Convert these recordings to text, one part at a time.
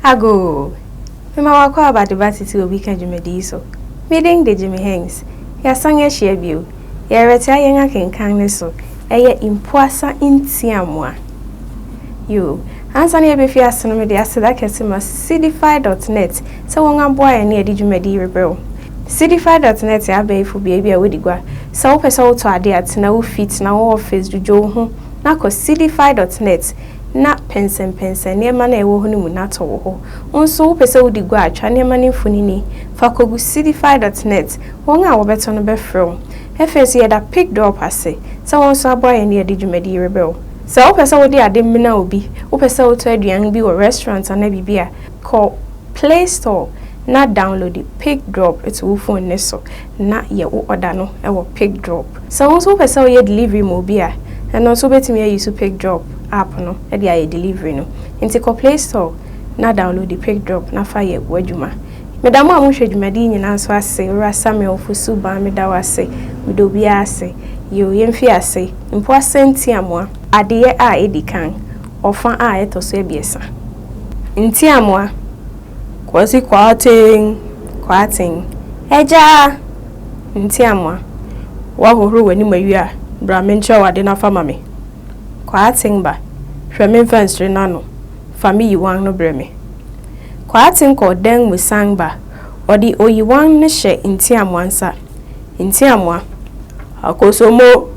Agoo! Mema w'akwaaba adeba tete obi ka dwumadi yi so. Me din de Jimmy Hengz. Yɛasan ahyia bio. Yɛrɛtea yɛn akenkan no so. Ɛyɛ Mpoasa Ntiamoa. Yoo! Ansa na yɛbɛfi ase no mede aseda kɛse ma Seedify dot net sɛ wɔn aboa yɛn ne yɛde dwumadi yi rebrɛ wo. Cdfi dot net yɛ abɛɛfo beabi a wodi gua. Sɛ wopɛ sɛ wotɔ ade a, tena wo fi, tena wo office, dwudwo wo ho, na kɔ cdfi dot net na pɛnsɛmpɛnsɛn nneɛma no a ɛwɔ hɔ no mu na tɔ wo ho. Wo nso, wopɛ sɛ wodi gua a, twa nneɛma no mfonini, fa kogu cdfi dot net, wɔn a wɔbɛtɔ no bɛfrɛ wo. Afei nso, yɛda PicDorp ase sɛ wɔn nso aboa yɛn de adi dwumadi yi rebrɛ wo. Sɛ wopɛ sɛ wode ade mena obi, wopɛ sɛ wotɔ aduan bi wɔ restaurant anaa biribi a, Kɔ play store na downloadi pic drop to wo phone no so na yɛ wo order no wɔ pic drop. Sɛ wo nso wopɛ sɛ woyɛ delivery ma obi a, ɛno nso wobɛtumi a use pic drop app no de ayɛ delivery no. Nti kɔ play store na downloadi pic drop na fa yɛ w'adwuma. Meda mo a mohwɛ dwumadi yi nyinaa nso ase, Owura Samuel Fosu Baa meda wo ase, meda obiara ase. Yoo yɛmfi ase, Mpoa Sɛntiamoa. Adeyɛ a ɛdi kan, ɔfa a ɛtɔ so abiɛsa. Ntiamoa, Kwasi Kwarteng, Kwarteng, Agya Ntiamoa, woahohoro w'anim awie a, bra menkyerɛ wo ade na fa ma me. Kwarteng ba, hwɛ me mfɛnsere no ano, fa me yiwan no brɛ me. Kwarteng kɔ dan mu san ba, ɔde oyiwan no hyɛ Ntiamoa nsa. Ntiamoa, Akosomo!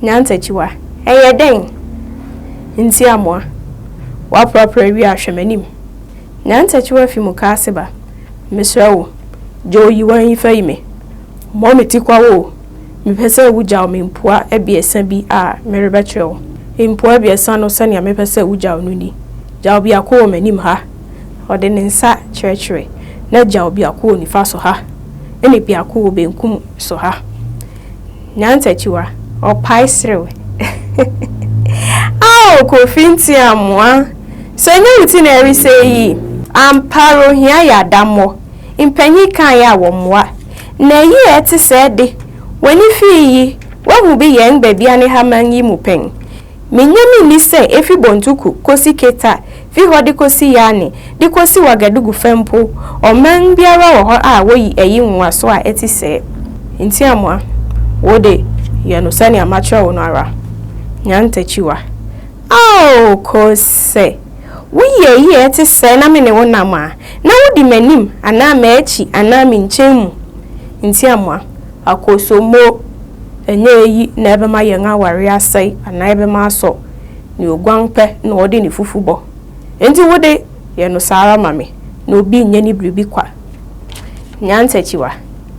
Nyantakyiwa, ɛyɛ dɛn? Ntiamoa, woaprapra wie a hwɛ m'anim. Nyantakyiwa fi mukaase ba, Mesrɛ wo, gya oyiwan yi fa yi me. Mmɔ me tikwa o, mepɛ sɛ wugyaw me mpoa abiɛsa bi a merebɛkyerɛ wo. Mpoa abiɛsa no sɛnea mepɛ sɛ wugyaw no ni, Gyaw biako wɔ m'anim ha, ɔde ne nsa kyerɛkyerɛ, na gyaw biako wɔ nifa so ha, ɛnna biako wɔ benkum so ha. Nyantakyiwa, ɔpae serew. Ao Kofi Ntiamoa, sɛ ɛnyɛ wo ti na ɛresɛe yi, ampa ara ohia yɛ adammɔ. Mpanyin kae a wɔmmoa. Na eyi a ɛte sɛɛ de, w'ani fi yi, woahu bi yɛn Gbabianehama yi mu pɛn? Minnye me nni sɛ efi Bontuku kosi Keta, fi hɔ de kosi Yane, de kosi Ouagadougou fã mpo, ɔman biara wɔ hɔ a woyi ayi nwonwaso a ɛte sɛɛ. Enti Amoah, wo de, yɛ no sɛnea makyerɛ wo no ara. Nya ntakyiwa. Ao, Kose, sɛ woyi ayi a ɛte sɛɛ na me ne wo nam a, na wudi m'anim anaa m'akyi anaa me nkyɛn mu. Enti Amoah, Akosombo, Ɛnyɛ eyi na ɛbɛma yɛn aware asɛe anaa ɛbɛma asɔ. Nea oguan pɛ na ɔde ne fufu bɔ. Enti wo de, yɛ no saa ara ma me, na obi nyɛ ne biribi kwa. Nyantakyiwa,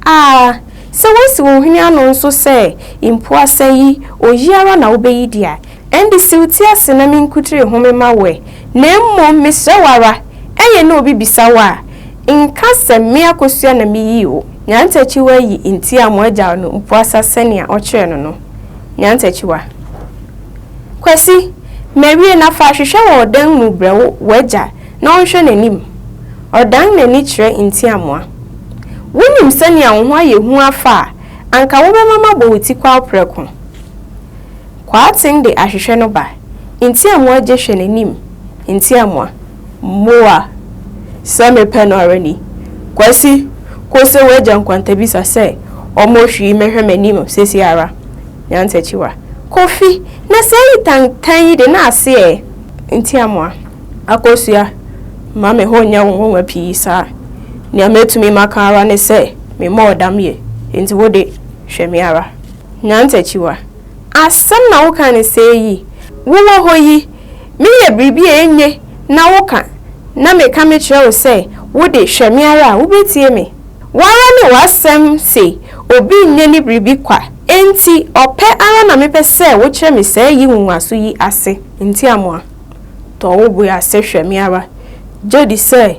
Aa! Sɛ woasi wo hwene ano nso sɛ mpo asɛe yi, oyi ara na wobɛyi di a, Ɛnde si wo ti ase na me nkutiri home ma wo ɛ, na mmom mesrɛ wo ara, ɛyɛ na obi bisa wo a, nka sɛ me akosua na meyii wo, Nyantakyiwa yi nti a mo agyaw no mpuasa sɛnea ɔkyerɛɛ no no. Nyantakyiwa. Kwasi, mawie na fa ahwehwɛ wɔ ɔdan mu brɛ wo w'agya na ɔnhwɛ n'anim. Ɔdan n'ani kyerɛ Ntiamoa. Wonim sɛnea wo ho ayɛ hu afa a, anka wobɛma mabɔ wo tikwaw prɛko. Kwaaten de ahwehwɛ no ba. Ntiamoa gye hwɛ n'anim. Ntiamoa, Moa! Sɛ mepɛ no ara ni. Kwasi, Kose w'agya nkwantabisa sɛ ɔmmɔ hwii mmɛhwɛ m'anim seesei ara. Nyantakyiwa, Kofi! Na sɛ eyi tantan yi de, na ase ɛ? Ntiamoa, Akosua, mma me ho nyɛ wo nwonwa pii saa. Nea metumi maka ara ne sɛ memmɔɔ dam yɛ. Enti wo de, hwɛ me ara. Nyantakyiwa. Asɛm na woka no sɛɛ yi? Wowɔ hɔ yi, meyɛ biribi a enye na woka, na meka mekyerɛ wo sɛ, Wo de, hwɛ me ara a, wubetie me? Wo ara ne w'asɛm se obi nyɛ ne biribi kwa, enti ɔpɛ ara na mepɛ sɛ wokyerɛ me sɛɛ yi nwonwaso yi ase ntiamoa. Tɔ wo bo ase hwɛ me ara, gye di sɛ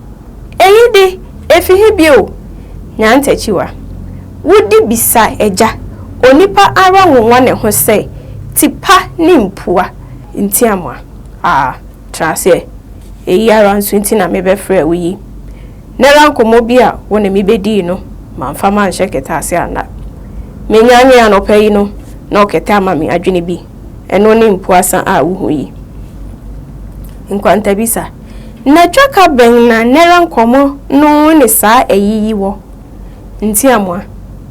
Eyi de, efi he bio? Nya ntakyiwa. Wode bisa agya, onipa ara nwonwa ne ho sɛ, Tipa ne mpua nti amoa? Aa, tra aseɛ. Eyi ara nso nti na mebɛfrɛɛ wo yi. Nnɛra nkɔmmɔ bi a wo ne me bɛdii no, mamfa manhyɛ kɛtɛ ase anna. Menyanee anɔpa yi no, na ɔkɛtɛ ama me adwene bi. Ɛno ne mpuasa a wohu yi. Nkwantabisa. Na dwaka bɛn na nɛra nkɔmɔ no ne saa ayi yi wɔ? Ntiamoa,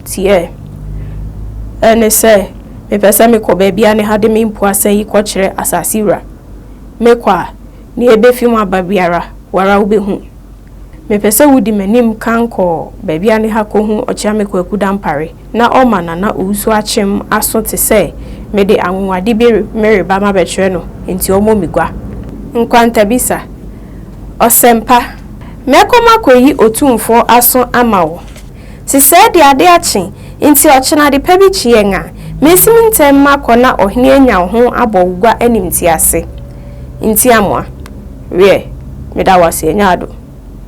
Tiɛɛ. Ɛne sɛ, mepɛ sɛ mekɔ baabi a ne ha de me mpoa sɛ yi kɔkyerɛ asase wura. Mekɔ a, nea ebefi mu aba biara, wo ara wubehu. Mepɛ sɛ wudi m'anim kan kɔ baabi a ne ha kohu Ɔkyeame Kwaku Dampare. na ɔma Nana Owusu akyem aso te sɛ mede anwonwade bi mereba mabɛkyerɛ no nti ɔmmɔ me gua. Nkwantabisa, Ɔsɛmpa, mɛkɔ makɔyi Otumfoɔ aso ama wo. Sesɛɛ de ade akye nti ɔkyena adepa bi kye yɛn a, mensim ntɛm makɔ na ɔhene anya wo ho abɔ wo gua animtiase. Ntiamoa, Wiɛ, meda wo ase, ɛnyɛ ado.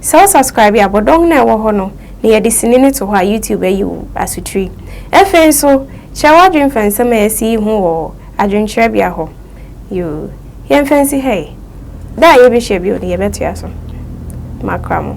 Sɛ wo subscribe a, bɔdɔm no a ɛwɔ hɔ no na yɛde sini no to hɔ a YouTube ayi wo asotiri. Ɛfei nso, kyerɛ w'adwene fa nsɛm a yɛasi yi ho wɔ adwenkyerɛbea hɔ. Yoo, yɛmfa nsi ha yi. Da a yɛbɛhyia bio no, yɛbɛtoa so. Makra mo.